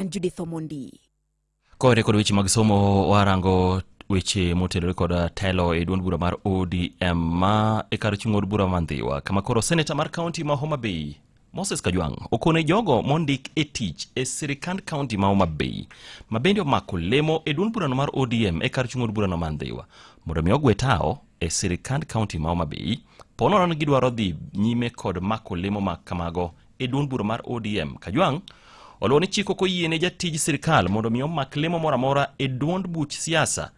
and Judith Omondi. Kore kod weche mag somo warango weche motenore kod uh, telo e duond bura mar ODM ma e kar chung' od bura Mandhiwa kama koro seneta mar kaunti ma Homa Bay Moses Kajwang' okone jogo mondik e tich e sirikand kaunti ma Homa Bay ma bende omako lemo e duond burano mar ODM e kar chung' od burano Mandhiwa mondo mi ogwe tawo e sirikand kaunti ma Homa Bay ponono ni gidwaro dhi nyime kod mako lemo ma kamago e duond bura mar ODM Kajwang' oluwo ni chik ok oyiene jatij sirkal mondo omi omak lemo moro amora e duond buch siasa.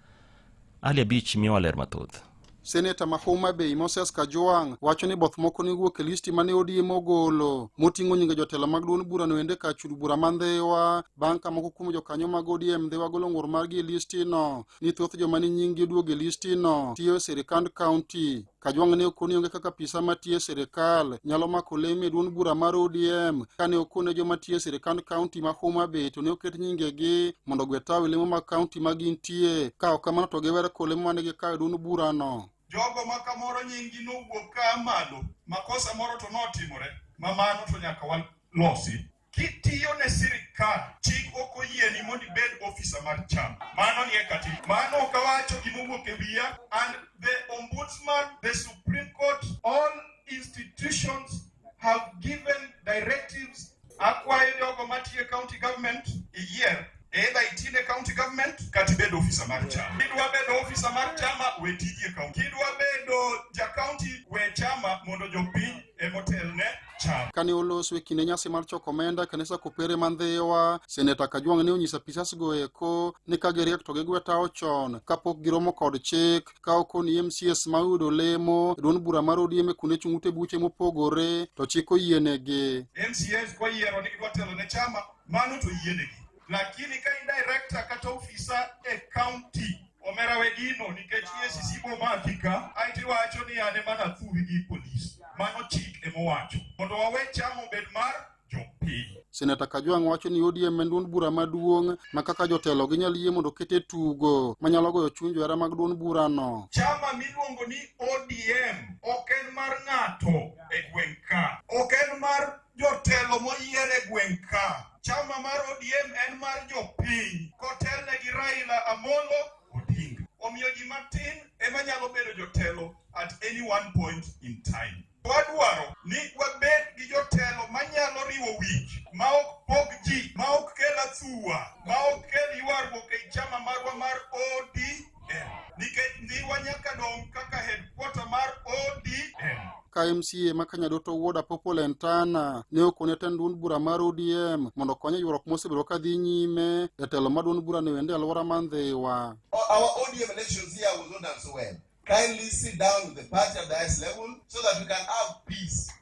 Ali Abich miyowa ler mathoth. Seneta ma Homa Bay Moses Kajwang' wacho ni both moko ne wuok e listi mane ODM ogolo moting'o nyinge jotelo mag duond burano ende ka chud bura ma Ndhewa bang' ka moko kuom jokanyo mag ODM Ndhewa golo ng'ur margi e listino ni thoth joma ni nyinggi oduog e listino tiyo e sirikand kaunti. Kajwang' ne okoni onge kaka apisa matiyo e sirkal nyalo mako leme e duond bura mar ODM kane okone joma tiyo e sirkand kaunti ma Homa Bay to ne oket nyingegi mondo ogwe tawi lemo mag kaunti ma gintie ka ok kamano to giwer ko lemo mane gikawo e duond burano. Jogo ma kamoro nyinggi nowuok ka a malo, makosa moro to notimore ma mano to nyaka walosi. Kitiyo ne sirkal, chik ok oyieni mondo ibed ofisa mar chama. Mano nie katiba. Mano ok awacho gima owuok e wiya. And the ombudsman, the Supreme Court, all institutions have given directives. Akwayo jogo matiyo e county government iyier Either itine county government kata ibed ofisa mar chama. Kidwa bedo ofisa mar chama we tiji e kaunti. Kidwa bedo ja kaunti we chama mondo jopiny emotelne chama. Kane olos we kinde nyasi mar choko omenda kanisa kopere ma Ndhiwa, seneta Kajwang' ne onyiso apisas go eko ni ka giriek to gigwetawo chon kapok giromo kod chik ka okoni MCS ma oyudo lemo duond bura mar ODM e kuonde chung' ute buche mopogore to chik oyienegi. MCS kwayiero ni gidwa telo ne chama mano to yienegi lakini ka in director kata ofisa e county omera we gino nikech EACC bomaki ka ae tiwacho ni ane mana thuwi gi polis mano chik emowacho mondo wawe chamo bed mar jopiny Seneta Kajwang' wacho ni ODM en duond bura maduong' ma kaka jotelo ginyal yie mondo oket e tugo manyalo goyo chuny johera mag duond burano. chama miluongo ni ODM ok en mar ng'ato e gweng' ka ok en mar jotelo moyier e gweng' ka. Chama mar ODM en mar jopiny kotelne gi Raila Amolo Odinga. Omiyo ji matin ema nyalo bedo jotelo at any one point in time. Wadwaro ni wabed gi jotelo manyalo riwo wich, ma ok pog ji, ma ok kel athuwa, ma ok kel ywaruok ei chama marwa mar ODM. nikech Ndhiwa nyaka dong' kaka headquarter mar ODM. ka MCA ma Kanyadoto Wuod Apopo Lentana ne okone tend duond bura mar ODM mondo okonye ywaruok mosebedo ka dhi nyime jatelo ma duond bura ne wende alwora ma Ndhiwa. Our ODM elections here was not done so well. Kindly sit down with the party at the highest level so that we can have peace.